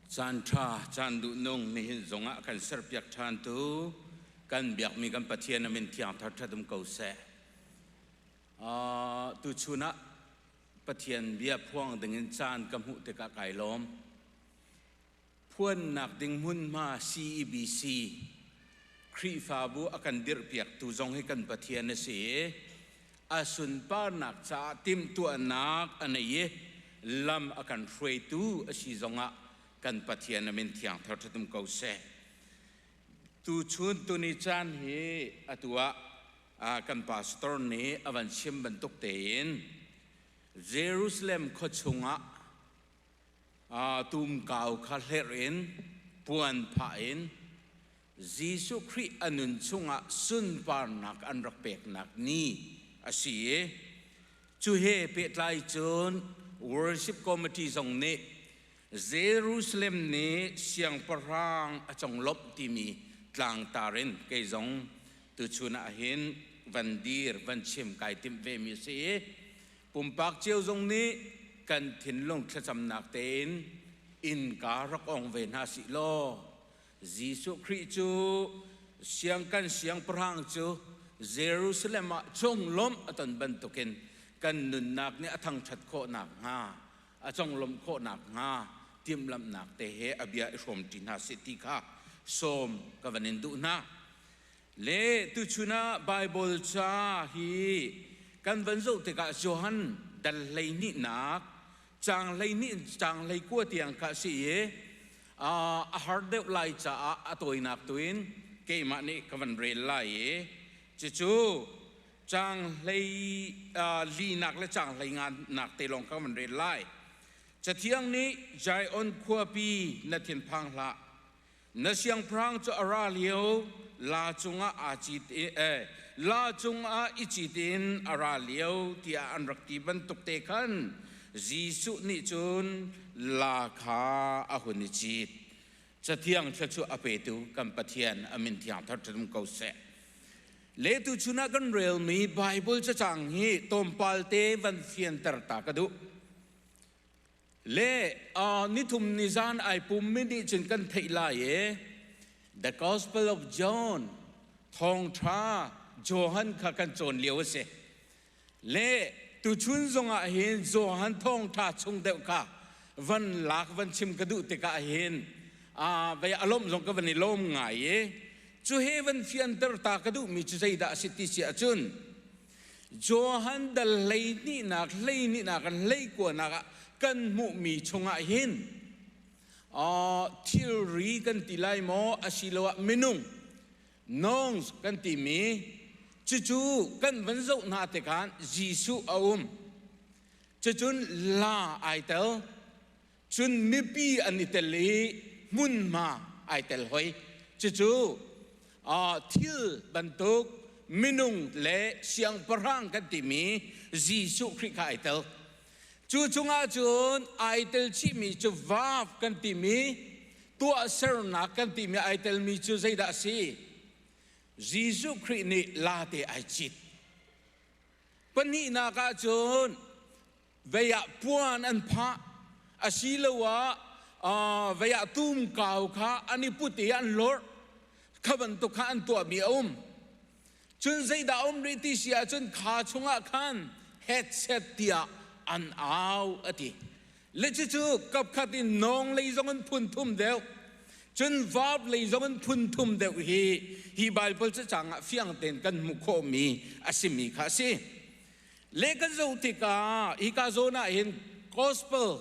Caanṭha, caan duhnung nihin zongah kan serpiak ṭhan tu kan biakmi kan Pathian a min thiang thar ṭhat um ko seh. Uh, tuchun ah Pathian bia phuang dingin caan ka hmuh tikah kai lawm. Phuannak ding hmunhma CEBC Khrihfabu a kan dirhpiaktu zong hi kan Pathian a si i a sunparnak caah timhtuahnak a nei i lam a kan hruaitu a si zongah kan Pathian a min thiangthar ṭhatum ko seh. Tuchun tuni caan hi atu ah kan pastor nih a van chim bantuk tein Jerusalem khua chungah tumkau kha hlerh in puan phah in Jesuh Khrih a nun chungah sunparnak an rak peknak ni a si i cu he pehtlai cun worship committee zong nih Jerusalem ni siangpahrang a conglawmh timi tlangtar in kei zong tuchun ah hin van dir van chim kai timh vemi a si i pumpak cio zong nih kan thinlung thlacamnak tein innka rak ong ve hna sih law Jesuh Khrih cu siangkan siangpahrang cu Jerusalem ah conglawmh a ton bantukin kan nunnak nih a thangṭhat khawh nakhnga a conglawmh khawh nakhnga timhlamhnak te he a bia i hrawmṭi hna sih ti kha sawm ka van in duh hna. Le tuchun ah Baibal ca hi kan van zoh tikah Johan dal hleinihnak Cang hlei nih cang hlei kua tiang kha si i a har deuh lai caah a tawinak tu in keimah nih ka van rel lai i cucu cang hlei linak le cang hlei ngannak te lawng ka van rel lai. Cathiang nih Zion khuapi na thinphang hlah, na siangpahrang cu a ra lio la cungah aa cit i eh, la cungah i cit in a ra lio tiah an rak ti bantuk te khan Jesuh nih cun la kha a hun i cit cathiang thla cu a petu kan Pathian amin thiang thar ṭhum ko seh letu chunah kan relmi Bible cacang hi tlawmpal te van fianter ta ka duh le uh, nithum ni zan ai pummi nih cun kan theih lai e the gospel of john thawngtha johan kha kan cawn lio a si le tuchun zongah hin johan thawngtha chung deuh kha van lak van chim ka duh tikah hin uh, vei alom zong ka van i lom ngai e cu he van fianter ta ka duhmi cu zeidah a si ti si ahcun Johan dal hlehnihnak hlehnihnak hleikuanak ah kan hmuhmi chungah hin thilri kan ti lai maw asiloah minung nongs kan timi cucu kan van zoh hna tikhan Jesuh a um cucun la ai tel cun mipi an i tel i hmunhma ai tel hoi cucu thil bantuk minung le siangpahrang kan timi Jesuh Khrih kha ai tel cu chungah cun ai tel chihmi cu vav kan timi tuahsernak kan timi ai telmi cu zeidah a si Jesuh Khrih nih late ai cit pahnihnak ah cun vei ah puan an phah asiloah uh, vei ah tum kau kha an i put i an lorh kha bantuk kha an tuahmi a um cun zeidah um rih ti si ahcun kha chungah khan headset tiah an au a ti le cucu kapkhat in nong lei zong an phun thum deuh cun vav lei zong an phun thum deuh hi hi baibal cacang ah fiang ten kan hmuh khawhmi a simi kha a si Leh kan zoh tikah hika zawn ah hin gospel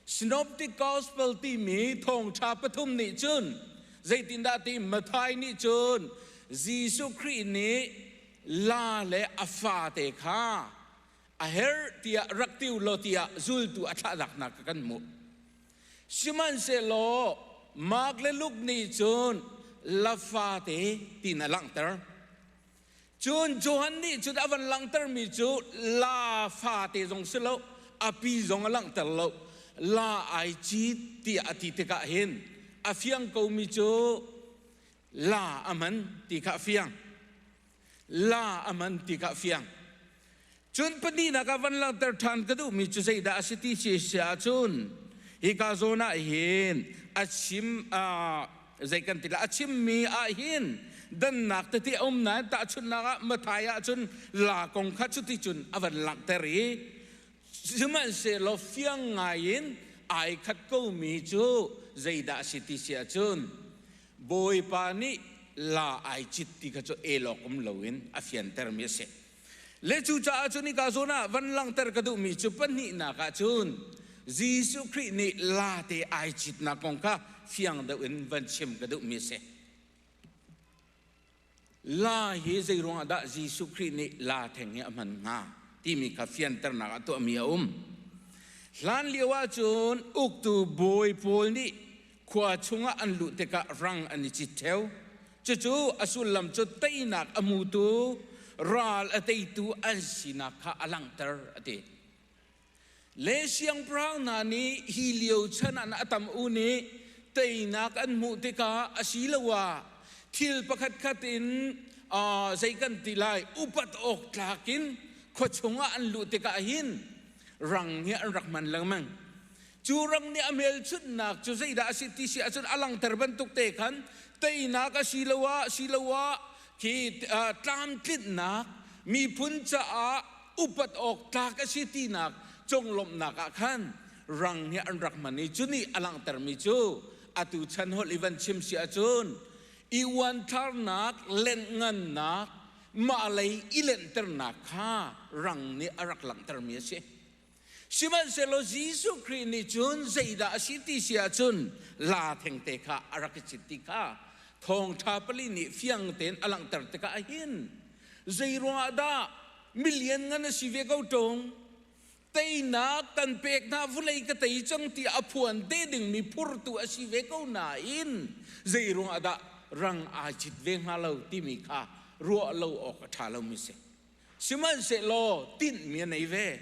synoptic gospel timi thawngṭha pathum nih cun zeitindah ti Matthai nih cun Jesuh Khrih nih la le a fate kha a herh tiah rak tiu law tiah zultu a thlahnak kha kan hmuh. Sihmanhsehlaw Mark le Luke nih cun la fate tiin a langhter. Cun Johan nih cun a van langhtermi cu la fate zong si lo, a pi zong a langhter lo, la ai cit tiah a ti tikah hin a fiang komi cu la a man ti kha a fiang. La a man ti kha a fiang. Cun pahnihnak ah van langhter ṭhan ka duhmi cu zeidah a si ti khi si ahcun hika zawn ah hin a chim ah zei kan ti lah a chimmi ah hin dannak tete a um nain tahchunhnak ah Matthai ah cun la kong kha cuti cun a van langhter i sihmanhsehlaw fiang ngai in ai khat komi cu zeidah a si ti si ahcun Bawipa nih la ai cit ti kha cu elawk um loin a fiantermi a si. Le cucaah cun hika zawn ah van langhter ka duhmi cu pahnihnak ah cun Jesuh Khrih nih late ai citnak kong kha fiang deuh in van chim ka duhmi a si. La hi zeiruangah dah Jesuh Khrih nih la theng hi a hman hnga timi kha fianternak ah tuahmi a um. Hlan lio ahcun uktu bawi pawl nih khua chungah an luh tikah rang an i cit theo. Cucu a sullam cu teinak a mutu, ral a teitu an sinak kha a langhter a ti. Le siangpahrang hna nih hi lio chan an atam u nih teinak an hmuh tikah asiloah thil pakhat khat in zei kan ti lai upat awk tlak in khua chungah an luh tikah hin rang nih an rak hman lengmang cu rang nih a hmelchunhnak cu zeidah a si ti si ahcun a langter bantuk te khan teinak a si loah siloah khi tlamtlinnak miphun caah upat awk tlak a si tinak conglawmhnak ah khan rang nih an rak hman i cu nih a langhtermi cu atu chan holh i van chim si ahcun i uanthlarnak lengngannak mahlei i lenhternak kha rang nih a rak langhtermi a si Sihmanhsehlaw Jesuh Khrih nih cun zeidah a si ti si ahcun laa thengte kha a rak i cit ti kha Thawngṭha pali nih fiang tein a langhter tikah a hin. Zeiruangah dah mi lianngan a si ve ko ṭung? Teinak kan pek hna, vulei ka tei cang tiah a phuan te dingmi phurtu a si ve ko nain zeiruangah dah rang aa cit ve hnga lo timi kha ruah lo awk a ṭha lomi a si. Sihmanhsehlaw tinhmi a nei ve.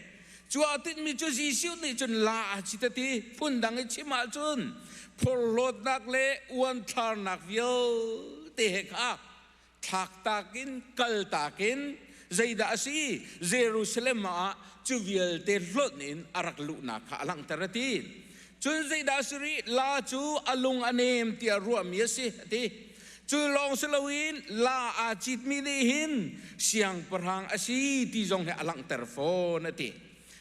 Cu a tinhmi cu Jesuh nih cun la a si te ti phundang i chim ahcun phorhlawtnak le uanthlarnak vialte he kha thlaktak in kaltak in zeidah a si Jerusalem ah cu vialte hlonh in a rak luhnak kha a langhter a ti. Cun zeidah a si rih? La cu a lung a nem tiah ruahmi a si a ti. Cu lawng si loin la aa citmi nih hin siangpahrang a si ti zong hi a langhter fawn a ti.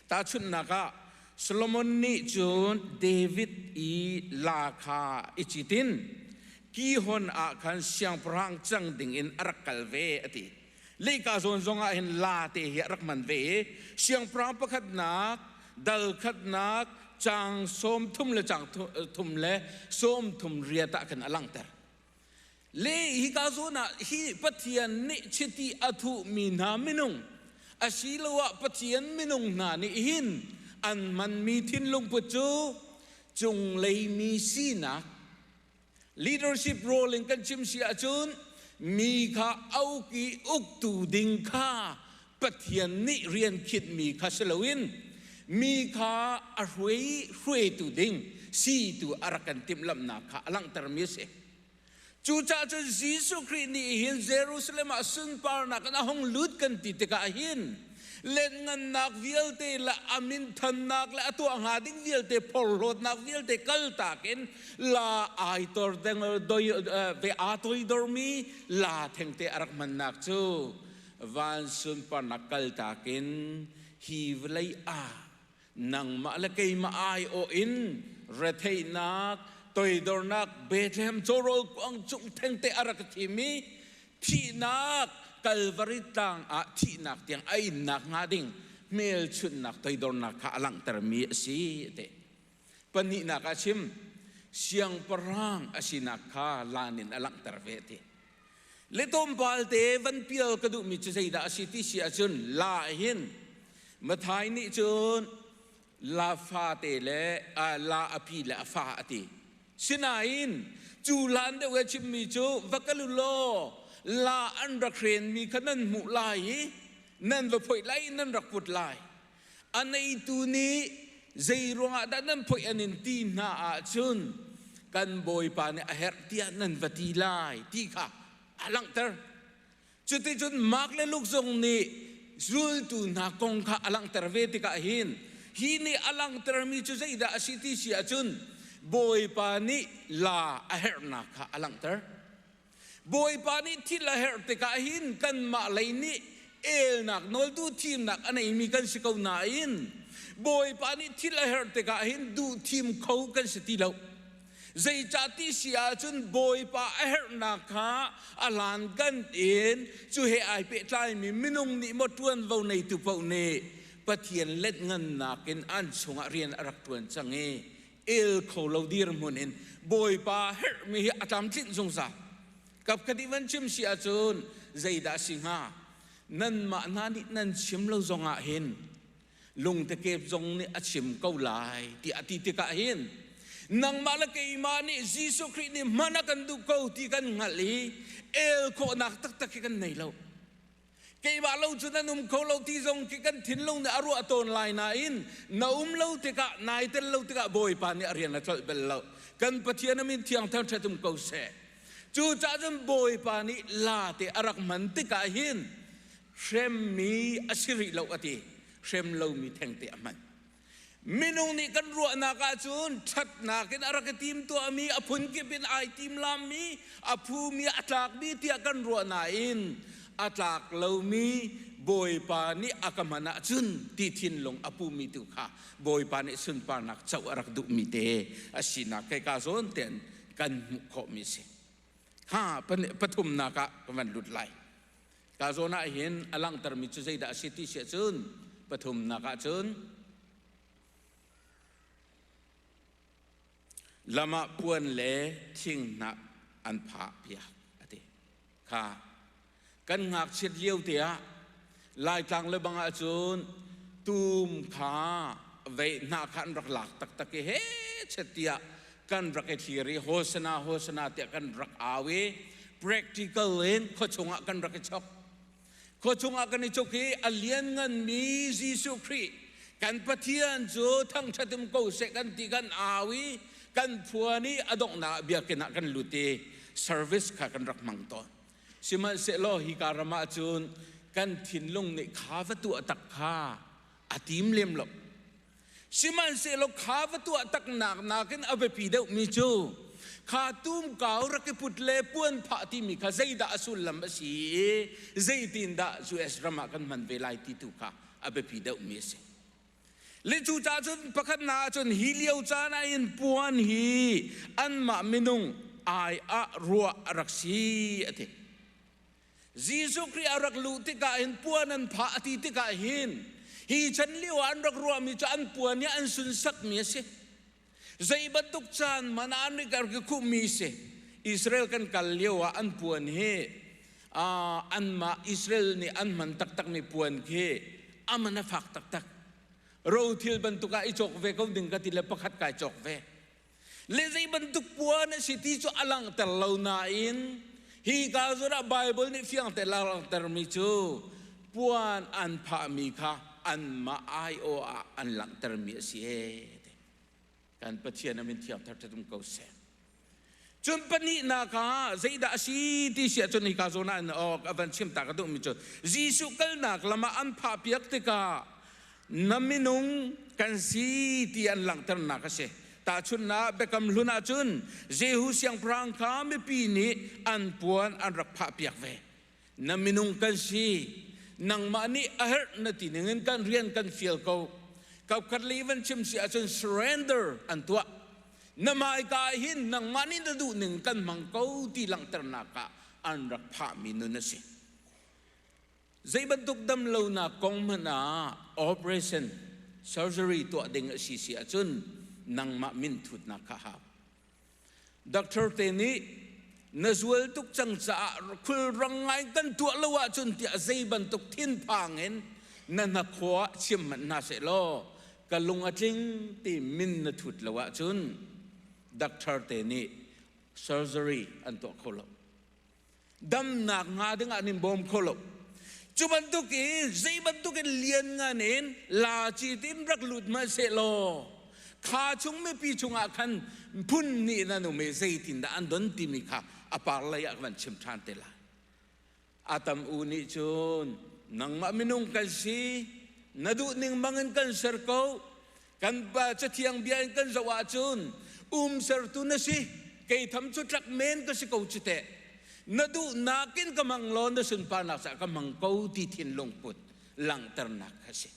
Tahchunhnak ah, Solomon nih cun David i la kha i citin Kihon ah khan siangpahrang cang dingin a rak kal ve a ti. lehka zawn zong ah hin la te hi a rak man ve i siangpahrang pakhatnak dal khatnak caang sawm thum le caang thum le sawm thum riat ah khan a langhter le hi ka zawn ah hi pathian nih chiti a thuhmi hna minung asiloah pathian minung hna nih hin an manmi thinlung put cu cunglei mi sinak leadership role in kan chim si ahcun mi kha auki uktu ding kha Pathian nih rian khitmi kha si loin mi kha a hruai hruaitu ding situ a rak kan timhlamhnak kha a langhtermi a si. Cucaah cun Jesuh Khrih nih hin Jerusalem ah sunparnak in a hung lut kan ti tikah hin Lianhngannak vialte le a minthannak le a tuah hnga ding vialte phorhlawtnak vialte kaltak in la ai tor dengel doi ve aa toidormi la thengte a rak hmannak cu van sunparnak kaltak in hi vawlei ah nangmah le keimah aiawh in retheihnak toidornak Bethlehem cawrawl kuang cung thengte a rak thim i thihnak Kalvari tlang ah thihnak tiang a innak hnga ding hmelchunhnak toidornak kha a langhtermi a si te pahnihnak a chim siangpahrang a sinak kha lan in a langhter ve te Le tlawmpalte van pial ka duhmi cu zeidah a si ti si ahcun la hin Mathai nih cun la fate le la a pi le a fa a ti. Sinain cu hlan deuh a chimmi cu va kal u law la an rak hrenmi kha nan hmuh lai i nan va phoih lai nan rak put lai A neitu nih zeiruangah dah nan phoih an in ti hna ahcun kan Bawipa nih a herh tiah nan va ti lai ti kha a langhter. Cuticun Mark le Luke zong nih zultu hna kong kha a langhter ve tikah hin hi nih a langhtermi cu zeidah a si ti si ahcun Bawipa nih la a herhnak kha a langhter. Bawipa nih thil a herh tikah hin kanmah lei nih elnak nawltu thimnak a neimi kan si ko nain Bawipa nih thil a herh tikah hin duh thim kho kan si ti lo. Zeicah ti si ahcun Bawipa a herhnak kha a hlan kan in cu he ai pehtlaimi minung nih maw ṭuanvo neitu paoh nih Pathian let ngannak in an chungah rian a rak ṭuan cang i el kho lo dirhmun in bawipa herhmi hi a tlamtlinh zungzal kap ka ti van chim si ahcun zeidah si hnga nanmah hna nih nan chim lo zongah hin lungtekep zong nih a chim ko lai ti a ti tikah hin nangmah le keimah nih Jesuh Khrih nih hman a kan duh ko ti kan hngalh i el khawhnak taktak hi kan nei lo keimah lo cun an um kho lo ti zong khi kan thinlung nih a ruah tawn lai nain na um lo tikah nai tel lo tikah bawipa nih a rian a colh bel lo kan pathian a min thiang thang ṭhet um ko seh cucah cun bawipa nih late a rak hman tikah hin hremmi a si rih lo a ti hrem lomi thengte a hman Minung nih kan ruahnak ahcun ṭhatnak in a rak i timtuahmi, a phunkip in ai timlammi, a phumi a tlakmi tiah kan ruah nain a tlak lomi Bawipa nih a ka hman ahcun ti thinlung a pumi tu kha Bawipa nih sunparnak co a rak duhmi te a sinak kei ka zawn tein kan hmuh khawhmi a si. Ha, pathumnak ah ka van lut lai. Ka zawn ah hin a langhtermi cu zeidah a si ti si ahcun pathumnak ahcun lamah puan le thinghnah an phah piak a ti kha kan ngakchiat lio te ah laitlang le bangah cun tum kha vei hna kha an rak lak taktak i he chet tiah kan rak i thlir i hosana hosana tiah kan rak au i practical in khuachung ah kan rak i chok khuachung ah kan i chok i a liannganmi Jesuh Khrih kan Pathian cu thangṭhat um ko seh kan ti kan au i kan phuan i a donghnak biakinn ah kan lut i service kha kan rak hmang tawn sihmanhsehlaw hika ram ah cun kan thinlung nih kha va tuah tak kha a tim lem lo Sihmanhsehlaw kha va tuahtaknak nakin a biapi deuhmi cu kha tumkau rak i put le puan phah timi kha zeidah a sullam a si i zeitindah US ram ah kan hman ve lai ti tu kha a biapi deuhmi a si. Le cu ca cun pakhat na ahcun hi lio caan ah in puan hi anmah minung ai ah ruah a rak si a ti. Jesuh Khrih a rak luh tikah hin puan an phah a ti tikah hin hi chan lio ah an rak ruahmi cu an puan hi an sunsakmi a si. Zei bantuk caan hmanh ah an rak rak khuhmi si. Israel kan kal lio ah an puan hi uh, anmah Israel nih an hman taktakmi puan khi aman a fak taktak. Rothil bantuk ah i cawk ve ko ding ka ti le pakhat kai cawk ve. le zei bantuk puan a si ti cu a langhter lo nain hi ka zurah Bible nih fiangte langhtermi cu puan an phahmi kha anmah aiawh ah an langhtermi a si ee kan Pathian amin thiam thar ṭhatum ko seh cun pahnihnak ah zeidah a si ti si ahcun hika zawn ah an awk a van chim ta ka duhmi cu Jesuh kalnak lam ah an phah piak tikah na minung kan si ti an langhternak a si. Tahchunhnak Biakam Hlun ah cun Jehu siangpahrang kha mipi nih an puan an rak phahpiak ve. Na minung kan si, nangmah nih a herh na ti ningin kan rian kan fial ko. Kapkhat lei van chim si ahcun surrender an tuah. Na hmaika ah hin nangmah nih na duh ning kan hmang ko ti langhternak ah an rak phahmi nun a si. Zei bantuk damlonak kong hmanh ah operation surgery tuah ding a si si ahcun nangmah minthutnak kha hau. Doctor te nih na zual tuk cang caah khulrang ngai kan tuah lo ahcun tiah zei bantuk thinphang in na hnakhaw ah chiam hmanh hna seh law ka lung a tling ti min na thut lo ahcun doctor te nih surgery an tuah kho lo. damnak hnga dingah nin bawm kho lo cu bantuk in zei bantuk in lian ngan in la ci tin rak lut ma se law kha chung mipi chungah khan phun nih nan um i zeitin dah an don timi kha a par lei ah van chim ṭhan te lai atam u nih cun nangmah minung kan si na duh ning bangin kan ser ko kan cathiang bia in kan zoh ahcun um sertu na si kei tham cu tlak men ka si ko cu teh na duhnak in ka mang law na sunparnak sa ka mang ko ti thinlung put langhternak ka si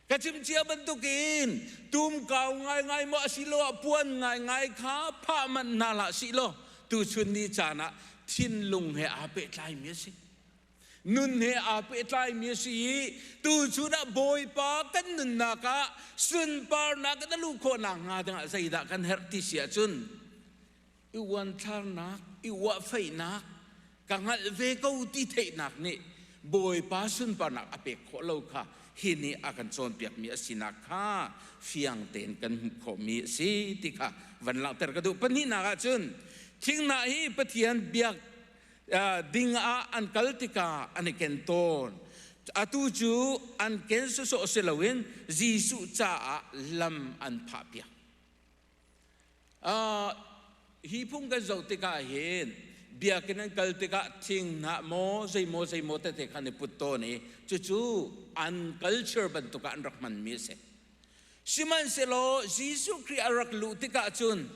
ka chimcia bantukin tum kau ngaingai maw asilo ah puan ngaingai kha phah manh hna la si lo tu chun ni caan ah thinlung he aa pehtlai mi a si nun he aa pehtlaimi a si i tu chunah Bawipa kan nunnak ah sunparnak in a luh khawh nakhnga dingah zeidah kan herh ti si ahcun i uanthlarnak i uahfeihnak ka hngalh ve ko ti theihnak nih Bawipa sunparnak a pek khawh lo kha hi nih a kan cawnpiakmi a sinak kha fiang tein kan hmuh khawhmi a si ti kha van langhter ka duh pahnihnak ahcun thinghnah hi Pathian biak ding ah an kal tikah an i ken tawn atu cu an ken sawsawh si loin Jesuh caah lam an phah piak hi phung kan zoh tikah hin biakinn an kal tikah thinghnah maw zeimaw zeimaw tete khan i put tawn i cucu an culture bantuk ah an rak hmanmi a si Sihmanhsehlaw Jesuh Khrih a rak luh tikah cun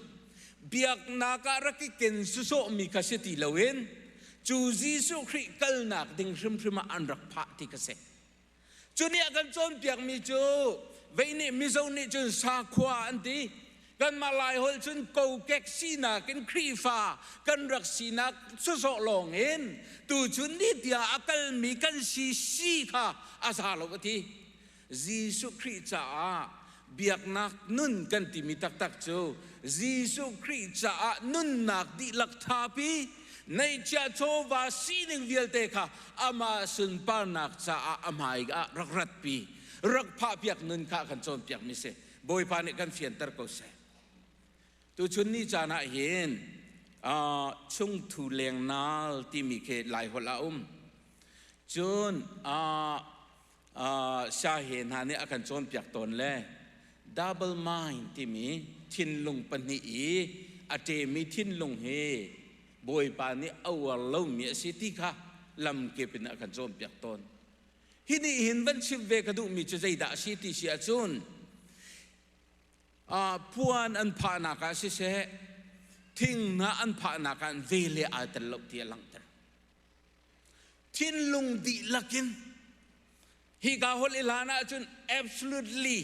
biaknak ah rak i ken sawsawhmi kha si ti loin cu Jesuh Khrih kalnak ding hrimhrim ah an rak phah ti ka si. Cu nih a kan cawnpiakmi cu vei nih mizo nih cun sakhua an ti. Kanmah Laiholh cun kokek sinak in Khrihfa kan rak sinak sawsawh lawng in tuchun ni tiah a kalmi kan si si kha a za lo a ti. Jesuh Khrih caah biaknak nun kan timi taktak cu Jesuh Khrih caah nunnak dihlak thapi, neihchiah chawva sining vialte kha amah sunparnak caah a hmai ah rak ratpi, rak phahpiak nun kha kan cawnpiakmi si. Bawipa nih kan fianter ko seh. Tuchun ni caan ah hin uh, chungthu lengnal timi khi Laiholh ah um. Cun uh, siahe hna nih a kan cawnpiak tawn le double mind timi thinlung pahnih i a ṭemi thinlung hi Bawipa nih a uar lomi a si ti kha lamkip in a kan cawnpiak tawn. Hi nih hin van chimh ve ka duhmi cu zeidah a si ti si ahcun puan an phahnak ah siseh thinghnah an phahnak ah ve le aa tel lo ti a langhter. thinlung dihlak in hika hol i hlan ahcun absolutely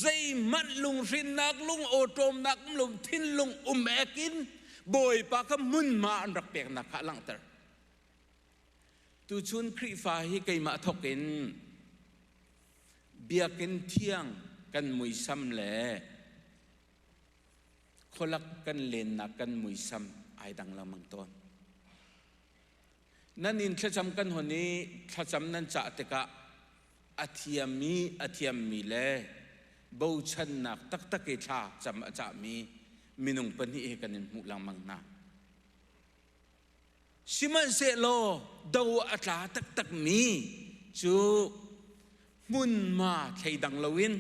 zeihmanh lunghrinnak lung awṭawmnak lung thinlung um ek in bawipa ka munma an rak peknak kha langhter tuchun Khrihfa hi keimah thokin biakin thiang kan muisam le khualak kan lennak kan muisam ai dang lengmang tawn nan in thlacam kan hon i thlacam nan cah tikah a thiammi a thiammi le bochannak taktak i thla cam a cahmi minung pahnih hi kan in hmuh lengmang hna Sihmanhsehlaw do a tla taktakmi cu hmunma thleidang loin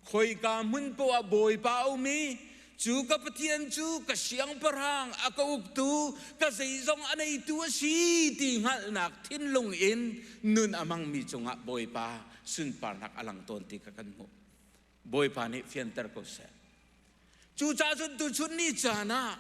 khoika hmun poah Bawipa a um i cu ka Pathian cu ka siangpahrang a ka uktu ka zeizong a neitu a si ti hngalhnak thinlung in nun a hmangmi cungah Bawipa sunparnak a lang tawn ti kha kan hmuh. Bawipa nih fianter ko seh. Cucahcun tuchun ni caan ah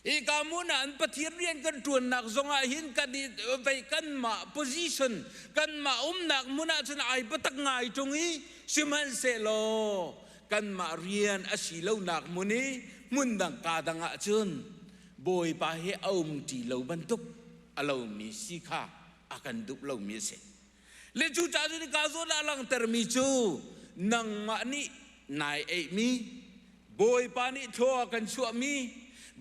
Ika mun ah an Pathian rian kan ṭuannak zongah hin kan i vei kanmah position kanmah umnak mun ah cun ai patak ngai ṭung i sihmanhsehlaw kanmah rian a si lonak mun i hmun dang ka dang ah cun Bawipa hi a um ṭi lo bantuk a lomi si kha a kan duh lomi a si. Le cu ca nun kaa zawn ah langhtermi cu nangmah nih nai eihmi, Bawipa nih thlaw a kan chuahmi,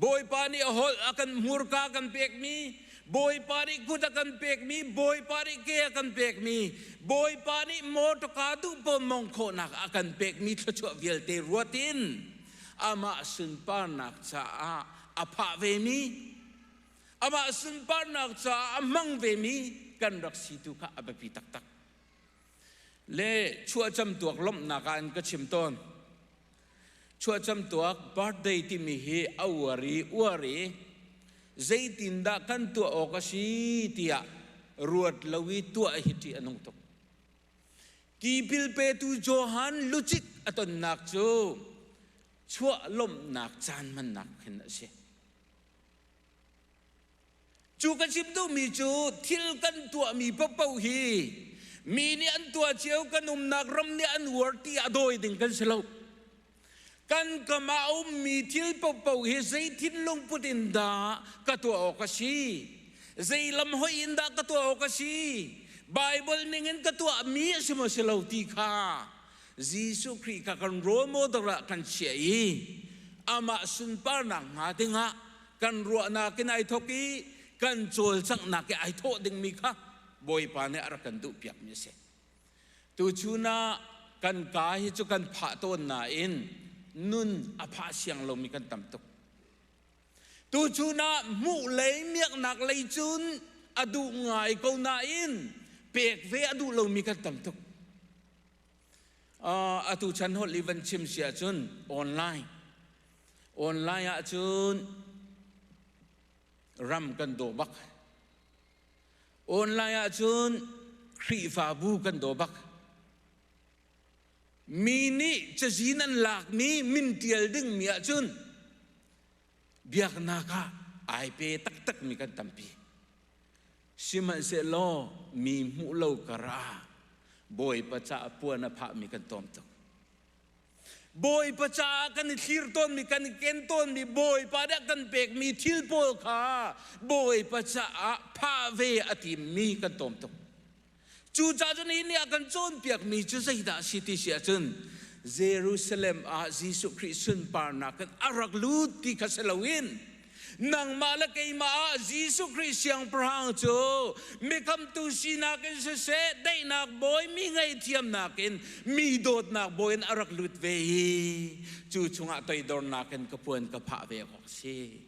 Bawipa nih holh a kan hmurka a kan pekmi, Bawipa nih kut a kan pekmi, Bawipa nih ke a kan pekmi, Bawipa nih motor kaa duh ponmong khawhnak a kan pekmi thluachuah vialte ruat in amah sunparnak caah a phah vemi, amah sunparnak caah a hmang vemi kan rak si tu kha a biapi taktak. Le chuahcam tuak lawmhnak ah in ka chim tawn. Chuahcam tuak birthday timi hi a uar i uar i zeitindah kan tuah awk a si tiah ruat lo i tuah hi ṭih a nung tuk. Tipil petu Johan lucit a tonnak cu chuah lawmhnak caan hmannak khin a si. Cu ka chim duhmi cu thil kan tuahmi paoh hi mi nih an tuah cio kan umnak ram nih an uar ti ah dawi ding kan si lo. Kan kam ah a ummi thil paoh hi zei thinlung put in dah ka tuah awk a si? Zei lam hoih in dah ka tuah awk a si? Baibal ning in ka tuahmi a si maw si lo ti kha Jesuh Khrih kha kan role model ah kan chiah i amah sunparnak hnga dingah kan ruahnak in ai thawk i kan cawlcanghnak i ai thawh dingmi kha Bawipa nih a rak kan duhpiakmi a si. Tuchun ah kan ka hi cu kan phah tawn nain nun a phah siang lomi kan tam tuk. Tuchun ah hmuh lei miaknak lei cun a duh ngai ko nain pek ve a duh lomi kan tam tuk. Uh, atu chan holh i van chim si ahcun online online ah cun ram kan daw bak online ah cun Khrihfabu kan daw bak Mi nih cazi nan lakmi min ṭial dingmi ahcun biaknak ah ai pe taktakmi kan tampi. Sihmanhsehlaw mi hmuh lo kar ah Bawipa caah puan a phahmi kan tawm tuk. Bawipa caah kan i thlir tawnmi, kan i ken tawnmi, Bawipa nih kan pekmi thil pawl kha Bawipa caah phah ve a timmi kan tawm tuk. Cucah cun hi nih a kan cawnpiakmi cu zeidah a si ti si ahcun Jerusalem ah Jesuh Khrih sunparnak in a rak lut ti kha si loin nangmah le keimah ah Jesuh Khrih Siangpahrang cu mikhamtu sinak in siseh daihnak bawi mi ngaihthiamnak in mi dawtnak bawi in a rak lut ve i cu chungah toidornak in ka puan ka phah ve awk a si.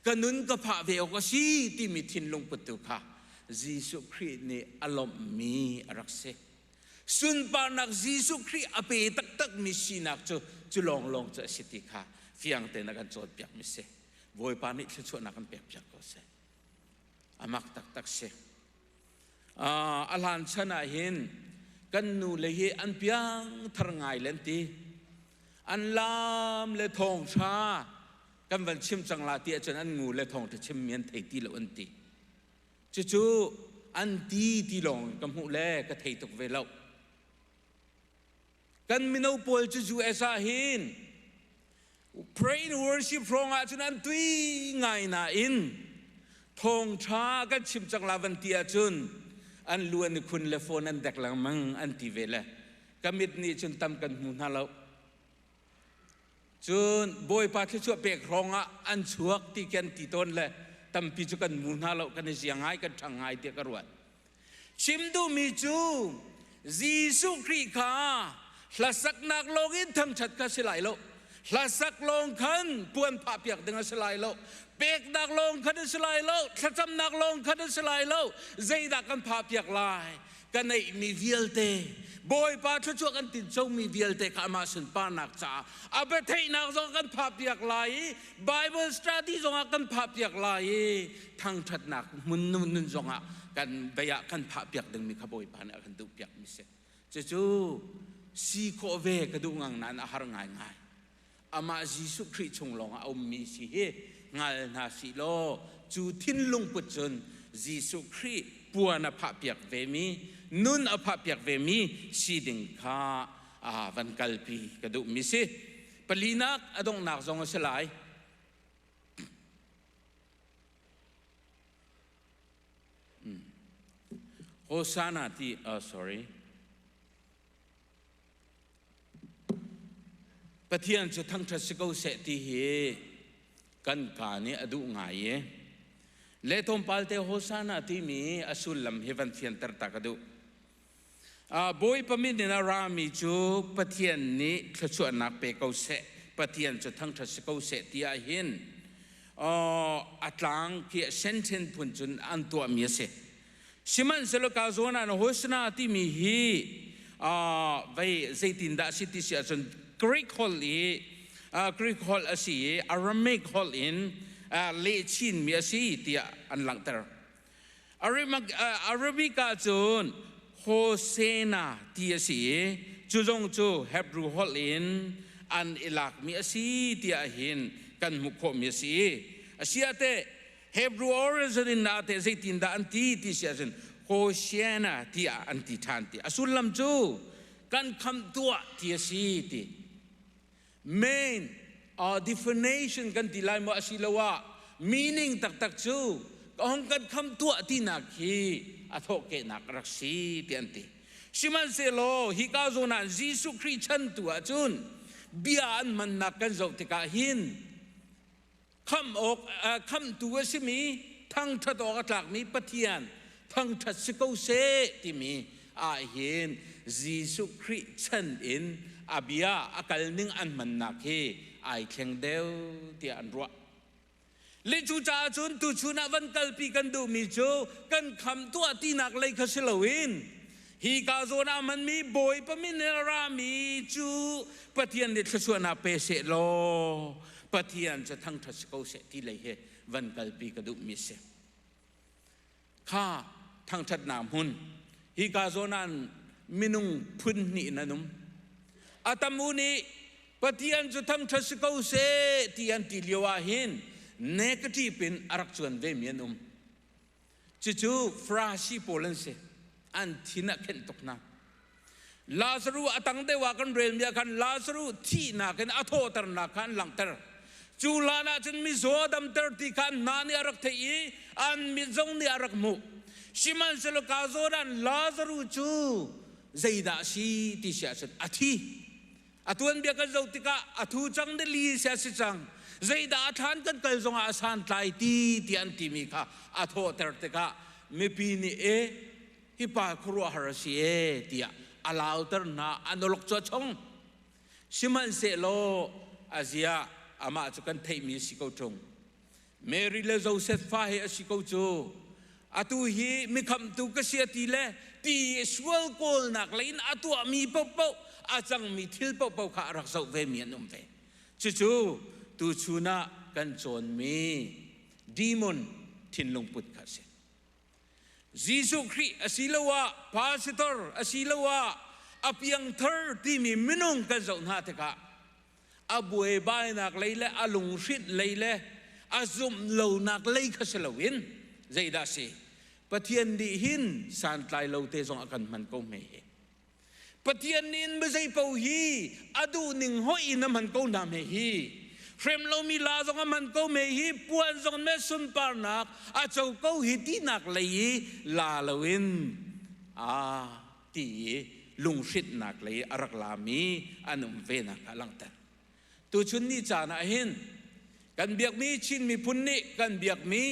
ka nun ka phah ve awk a si timi thinlungput tu kha Jesuh Khrih nih a lawmhmi a rak si. Sunparnak Jesuh Khrih a pe taktakmi sinak cu cu lawnglawng cu a si ti kha fiang tein a kan cawnpiakmi si. Bawipa nih thluachuahnak kan pekpiak ko seh. A mak taktak si. a hlan chan ah hin kan nule hi an piang thar ngai len ti an lam le thawng hra kan van chim cang la ti ahcun an ngu le thawng te chim mi an thei ti lo an ti cucu an ti ti lawng ka hmuh le ka thei tuk ve lo kan mino pawl cu US ah hin pray in worship hrawng ah cun an tui ngai nain thawngtha kan chim cang la van ti ahcun an lu an i khun le phone an dek lengmang an ti ve le ka mit nih cun tam kan hmu hna lo cun bawipa thluachuah pek hrawng ah an chuak ti kan ti tawn le tampi cu kan mu hna lo kan i zia ngai kan ṭhang ngai tiah ka ruat Chim duhmi cu Jesuh Khrih kha hlasaknak lawng in thangṭhat kha si lai lo. Hlasak lawng khan puan phahpiak ding a si lai lo. Peknak lawng khan a si lai lo. Thlacamnak lawng khan a si lai lo. Zeidah kan phahpiak lai? Ka neihmi vialte, Bawipa thluachuah kan tincomi vialte kha amah sunparnak caah a biatheihnak zong kan phahpiak lai i Bible study zongah kan phahpiak lai i thangthatnak hmun nun zongah kan bei ah kan phah piak dingmi kha Bawipa nih a kan duh piakmi si. Cucu si khawh ve ka duh ngang nain a har ngaingai. Amah Jesuh Khrih chung lawngah a ummi si hi ngal hna si law cu thinlung put cun Jesuh Khrih puan a phah piak vemi, nun a phah piak vemi si ding kha van kalpi ka duhmi si. Palinak a donghnak zong a si lai. Hosanna ti, oh sorry. Pathian cu thangṭhat si ko seh ti hi kan ka nih a duh ngai i le thawmpalte Hosanna timi a sullam hi van fianter ta ka duh. Bawipa min in a rami cu Pathian nih thluachuahnak pe ko seh, Pathian cu thangṭhat si ko seh ti ahhin a tlang tiah senthen phun cun an tuahmi a si. Sihmanhsehlaw Kazuanan Hosanna timi hi vei zeitindah a si ti si ahcun Greek holh i Greek holh a si i Aramaic holh in leh chinmi a si tiah an langhter. Arabic ah cun Hosena ti a si i cu zong cu Hebrew holh in an i lakmi a si tiah hin kan hmuh khawhmi a si i a si ah teh Hebrew origin in ah teh zeitindah an ti ti si ahcun Hoshiana tiah an ti ṭhan ti. A sullam cu kan khamh tuah ti a si ti. main uh, definition kan ti lai maw asiloah meaning taktak cu hong kan kham tuah tinak hi a thawhkehnak rak si ti an ti sihmanhsehlaw hi ka zawn ah Jesuh Khrih chan tu ahcun bia an mannak kan zoh tikah hin khamh awk khamhtu a simi thangṭhat awk a tlakmi Pathian thangṭhat si ko seh timi ahhin Jesuh Khrih chan in a bia a kalning an hmannak hi ai thleng deuh tiah an ruah. Le cucaah cun tuchun ah van kalpi kan duhmi cu kan khamh tuah tinak lei kha si loin Hika zawn ah hmanmi Bawipa minel rami cu Pathian nih thluachuahnak pe seh law Pathian cu thangṭhat si ko seh ti lei he van kalpi ka duhmi a si. Kha thangṭhatnak hmun, hika zawn ah minung phun hnih in an um. A tamu nih Pathian cu thangṭhat si ko seh ti an ti lio ah hin nekṭip in a rak cuan vemi an um. Cucu Frasi pawl an si. An thin ah khenh tuk hna. Lazaru a tang deuh ah kan relmi ah khan Lazaru thihnak in a thawhternak kha an langhter. Cu hlan ah cun mizaw a damter ti kha hna nih a rak theih i an mit zong nih a rak hmuh. Sihmanhsehlaw ka zawn ah Lazaru cu zeidah a si ti siah cun a thi. A tuanbia kan zoh tikah a thu cang deli si a si cang. Zeidah a thlan kan kal zongah a santlai ti ti an timi kha a thawhter tikah mipi nih e hipa khuaruahhar a si e tiah a lauter hna a noluk cu a chong sihmanhsehlaw a zia amah cu kan theihmi a si ko ṭung Mary le Joseph fa hi a si ko cu. Atu hi mikhamtu ka si a ti le pi sual kawlnak lei in a tuahmi paohpaoh, a cangmi thil paohpaoh kha a rak zoh vemi an um ve. Cucu tuchun ah kan cawnmi demon thinlungput kha a si. Jesuh Khrih asiloah pastor asiloah a piangthar timi minung kan zoh hna tikah a buaibainak lei le a lunghrinh lei le a zumh lonak lei kha si loin zeidah si pathian nih hin santlai lo te zong a kan hman ko hme pathian nih in mizei paoh hi a duh ning hoih in a man ko hna me hi hrem lomi la zong a man ko me hi puan zong me sunparnak a co ko hi tinak lei i la loin a ti i lunghrinhnak lei a rak lami an um venak a langhter. Tuchun ni caan ah hin kan biakmi Chin miphun nih kan biakmi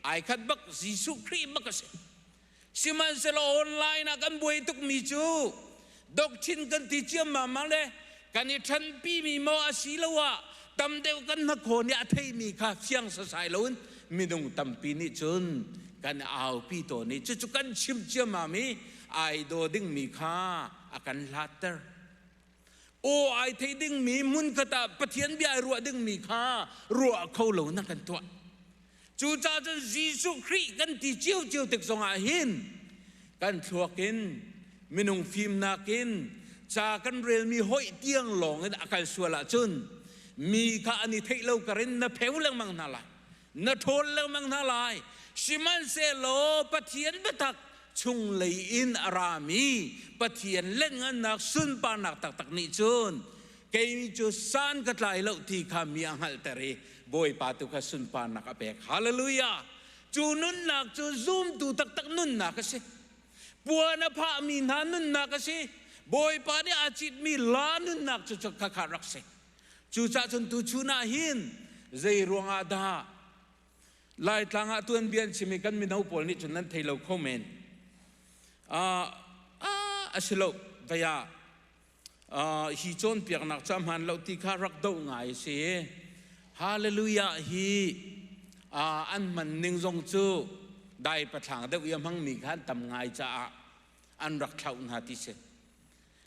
ai khat bak Jesuh Khrih bak a si. Sihmanhsehlaw online ah kan buai tukmi cu doctrine kan ti ciammam le kan i ṭhanpimi maw asiloah tam deuh kan hnakhaw nih a theimi kha fiang sasai loin minung tampi nih cun kan aupi tawn i cucu kan chimh ciammam i ai daw dingmi kha a kan hlatter. Aw ai thei dingmi hmunkhat ah Pathian bia ai ruah dingmi kha ruah kho lo na kan tuah. Cucahcun Jesuh Khrih kan ti ciocio tik zongah hin kan thluak in minung fimnak in ca kan relmi hoih tiang lawng in a kal sual ahcun mi kha an i theih lo kar in na pheu lengmang hna lai, na ṭhawl lengmang hna lai, sihmanhsehlaw Pathian biatak chunglei in a rami Pathian lengngannak sunparnak taktak nih cun kei cu san ka tlai lo ti kha mi a hngalhter i Bawipa tu kha sunparnak a pek. Hallelujah! Cu nunnak cu zumtu taktak nunnak a si. Puan a phahmi hna nunnak a si. Bawipa nih aa citmi la nunnak cu khakha kha rak si. Cucaah cun tuchun ah hin zei ruang ah dah Laitlang ah tuanbia an chim i kan mino pawl nih cun nan thei lo kho men. Uh, uh, a si lo, vei ah hi cawnpiaknak ca hmaan lo ti kha rak doh ngai a si hallelujah hi an hman ning zong cu dai pathlaang deuh ia hmangmi kha an tam ngai caah an rak thlauh hna ti si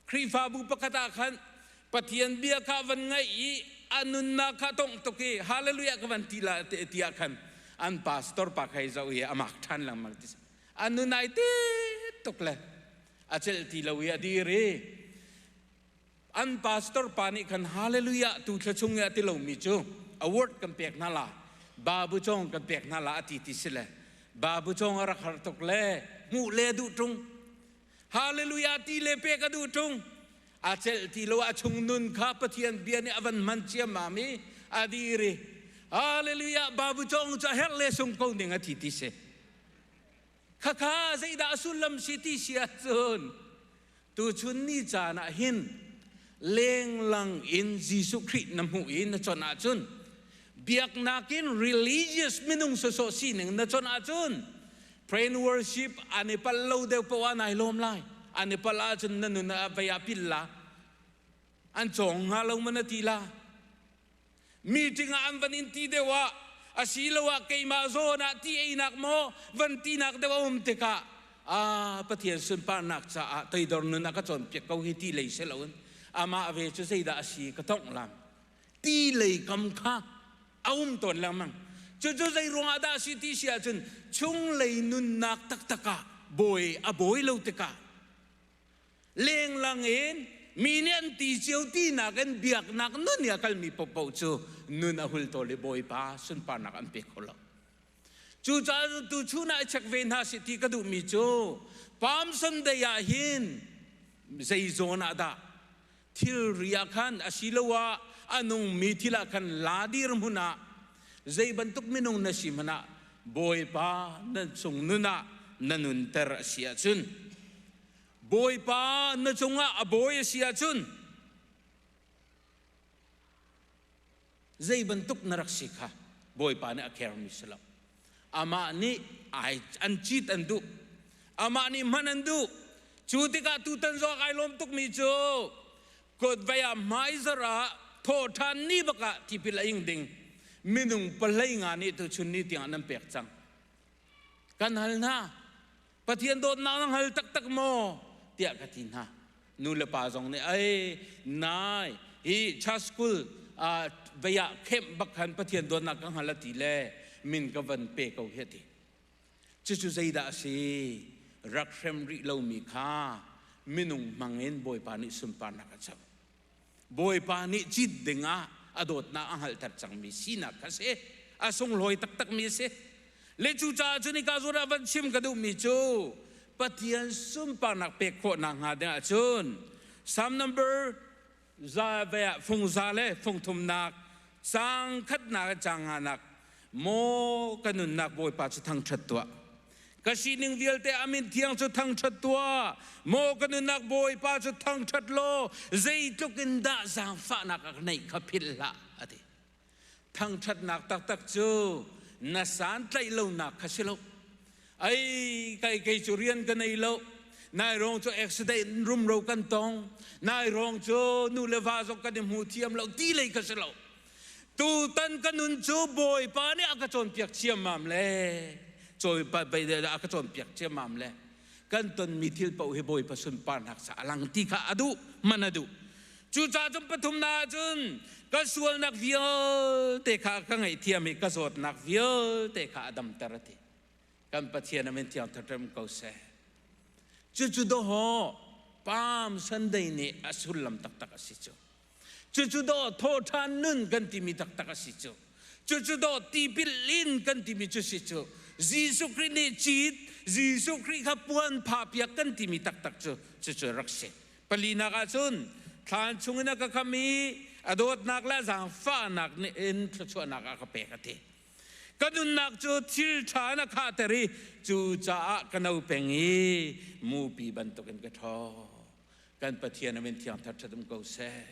Khrihfabu pakhat ah khan Pathian bia kha van ngaih i a nunnak kha tongh tuk i hallelujah ka van ti la te tiah khan an pastor pa khai zau hi amak than langmang ti si a nunai te tuk le a celh ti lo i a dir i an pastor pa nih khan hallelujah tu thla chung i a ti lomi cu award kan pek hna la babu cong kan pek hna la a ti ti si le babu cong a rak har tuk le hmuh le duh tung hallelujah ti le pek a duh tung a celh ti lo a chung nun kha pathian bia nih a van man ciamam i a dir i hallelujah babu cong cu a herh le sung ko ning a ti ti si khakha zeidah a sullam si ti si ahcun tuchun ni caan ah hin lenglang in Jesuh Khrih na hmuh i na chon ahcun biaknak in religious minung sawsawh sining na chon ahcun praise worship an i pal lo deuh poah nai lawm lai an i pal ahcun na nun ah vaya pil la an cawng nga lo mana ti la Meeting ah an van in ti deuh ah asiloah keimah zawn ah ti einak maw van tinak deuh a um tikah a Pathian sunparnak caah toidor nun a ka cawnpiak ko hi ti lei si loin amah ve cu zeidah a si ka tongh lam ti lei kam kha a um tawn lengmang cucu zei ruangah dah a si ti si ahcun chung lei nunnak taktak ah bawi a bawi lo tikah lenglang in mi nih an ti cio tinak in biaknak nun i a kalmi popoh cu nun a hul tawl i bawipa sunparnak an pe kho lo cucaah tuchun ah check ve hna si ti ka duhmi cu palm sunday ah hin zei zawn ah dah thilri ah khan asiloah a nungmi thil ah khan la dirhmun ah zei bantuk minung na si hmanh ah Bawipa na chungnun ah na nunter a si ahcun, Bawipa na cungah a bawi a si ahcun, Zei bantuk na rak si kha Bawipa nih a carmi si lo. Amah nih ai an cit an duh. Amah nih hman an duh. Cu tikah tutan Zoak ai lawm tukmi cu Kawtvei ah hmaizarh ah thawhṭhan ni bak ah tipil a ing ding minung pahleinga nih tuchun ni tiang nan pek cang. Kan hal hna, Pathian dawtnak na hngal taktak maw? tiah ka ti hna. Nulepa zong nih, Ei, nai, hi chaskul ah bei ah khenh bak khan Pathian dawtnak ka hngal a ti le min ka van pe ko hi a ti. Cucu zeidah a si? Rak hrem rih lomi kha minung hmangin Bawipa nih sunparnak a co. Bawipa nih cit dingah a dawtnak a hngalhter cangmi sinak kha si. A sunglawi taktakmi a si. Le cucaah cun hika zur ah van chim ka duhmi cu Pathian sunparnak pek khawh nakhnga dingah cun Psalm number za ve ah fung za le fung thumnak sang khatnak cang nganak maw ka nunnak Bawipa cu thangṭhat tuah. Ka sining vialte a mit thiang cu thangṭhat tuah, maw ka nunnak Bawipa cu thangṭhat law zeitluk in dah zaangfahnak a ka ngeih kha philh hlah, a ti. Thangṭhatnak taktak cu na santlaih lonak kha si lo. Ei, kei, kei cu rian ka nei lo. Nai rong cu accident in rumro kan tong. Nai rong cu nu le va zong kan i hmu thiam lo ti lei ka si lo. Tutan ka nun cu Bawipa nih a ka cawnpiak ciammam le Bawipa dah a ka cawnpiak ciammam le kan tonmi thil paoh hi Bawipa sunparnak sa a lang ti kha a duh man a duh cucaah cun pathumnak cun ka sualnak vialte kha ka ngaihthiam i ka zawtnak vialte kha a damter a ti kan pathian amin thiang ṭhaṭem ko seh cucu dawho palm sunday nih a sullam taktak a si cu Cucu dawh thawhṭhan nun kan timi taktak a si cu. Cucu dawh tipil in kan timi cu si cu. Jesuh Khrih nih cit, Jesuh Khrih kha puan phahpiak kan timi taktak cu cucu rak si. Palinak ahcun thlan chungin a ka kam i a dawtnak le a zaangfahnak nih in thluachuahnak a ka pek a ti. Ka nunnak cu thil ṭha in a khahter i cucaah ka no peng i mupi bantukin ka ṭhaw. kan pathian amin thiang thar ṭhatum ko seh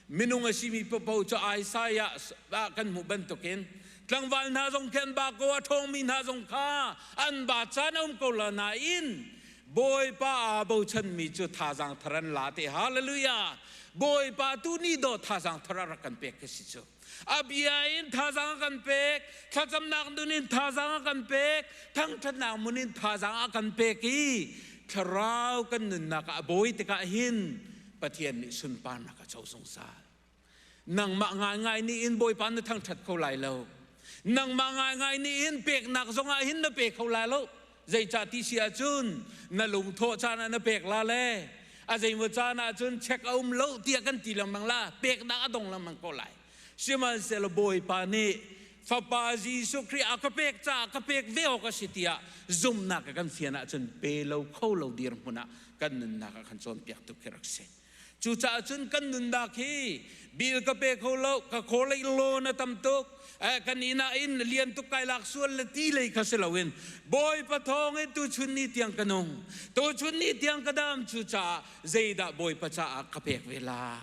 minung a simi papo cu Isaiah ah kan hmuh bantukin tlangval hna zong khan ba ko a ṭhawngmi hna zong kha an ba caan a um ko la nain Bawipa aa bochanmi cu thazaang thar an la te hallelujah Bawipa tu ni do thazaang thar a rak kan pek ka si cu A bia in thazaang a kan pek, thlacamnak nun in thazaang a kan pek, thangṭhatnak mun in thazaang a kan pek i thlarau kan nunnak ah a bawi tikah hin Pathian nih sunparnak a co zungzal. Nangmah ngaingai nih in Bawipa na thangṭhat kho lai lo. Nangmah ngaingai nih in peknak zongah hin na pe kho lai lo. Zeicah ti si ahcun na lungthawh caan ah na pek la le a zeimaw caan ahcun check a um lo tiah kan ti lengmang la, peknak a dong lengmang ko lai. Sihmanhsehlaw Bawipa nih Fapa Jesuh Khrih a ka pek caah ka pek ve awk a si tiah zumhnak a kan fian ahcun pe lo kho lo dirhmun ah kan nunnak ah kan cawnpiak tuk hi rak si. Cucaah cun kan nunnak hi bil ka pe kho lo, ka khualei loan a tam tuk, kan inn ah in lian tuk kai lak sual le ti lei kha si loin Bawipa thawng in tuchun ni tiang ka nung, tuchun ni tiang ka dam, cucaah zeidah Bawipa caah ka pek ve lai?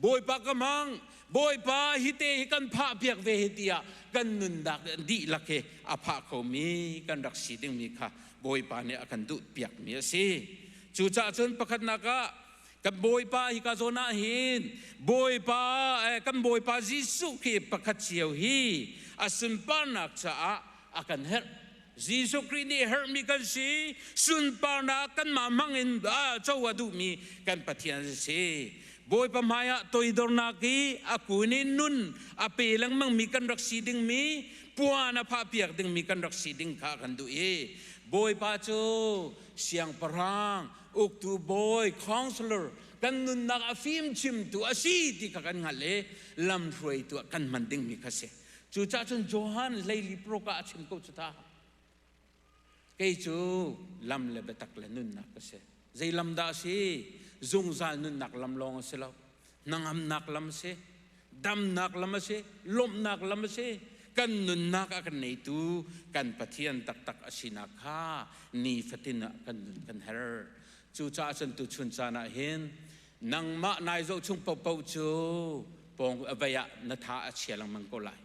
Bawipa ka hmang, Bawipa hite hi kan phah piak ve hi tiah kan nunnak dihlak hi a phah khomi kan rak si dingmi kha Bawipa nih a kan duhpiakmi a si. Cucaah cun pakhatnak ah kan Bawipa hika zawn ah hin Bawipa kan Bawipa Jesuh Khrih pakhat cio hi a sunparnak caah a kan herh. Jesuh Khrih nih herhmi kan si, sunparnak kanmah hmangin co a duhmi kan Pathian a si. Bawipa hmaiah toidornak i a kun i nun a pe lengmangmi kan rak si dingmi puan a phahpiak dingmi kan rak si ding kha kan duh i Bawipa cu siangpahrang, uktu bawi, counselor, kan nunnak a fimchimtu a si ti kha kan hngalh i lamhruaitu ah kan hman dingmi kha a si. Cucahcun Johan hleili proka a chim ko cu ta. kei cu lam le biatak le nunnak ka si zei lam dah si zungzal nunnak lam lawng a si lo hnangamnak lam a si damnak lam a si lawmhnak lam a si kan nunnak a kan neitu kan pathian taktak a sinak kha nifatin ah kan nun kan her cucaah cun tu chun caan ah hin nangmah nai zoh chung popo cu pawng avei ah na tha a chia lengmang ko lai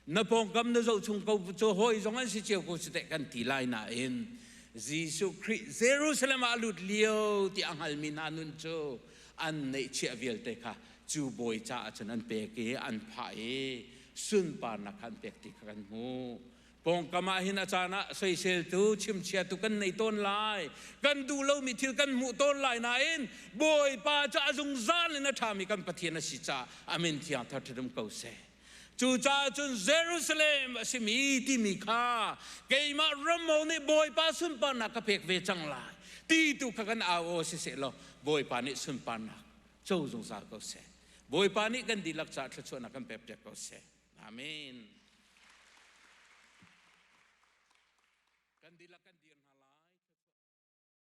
na pawngkam na zohchung ko cu hawi zong an si cio ko si teh kan ti lai nain Jesuh Khrih Jerusalem ah a lut lio ti a hngalmi hna nun cu an neihchiah vialte kha cu bawi caah cun an pek i an phah i sunparnak kha an pek ti kha kan hmuh pawngkam ah hin a caan ah soiseltu chimchiatu kan nei tawn lai kan duh lomi thil kan hmuh tawn lai nain bawipa cu a zungzal in a ṭhami kan pathian a si caah amin thiang thar ṭhadum ko seh Cucaah cun Jerusalem a simi timi kha keimah Rammo nih Bawipa sunparnak ka pek ve cang lai ti tu kha kan au aw si seh law Bawipa nih sunparnak co zungzal ko seh. Bawipa nih kan dihlak caah thluachuahnak kan pek ko seh. Amen. Kan dihlak kan dir hna lai.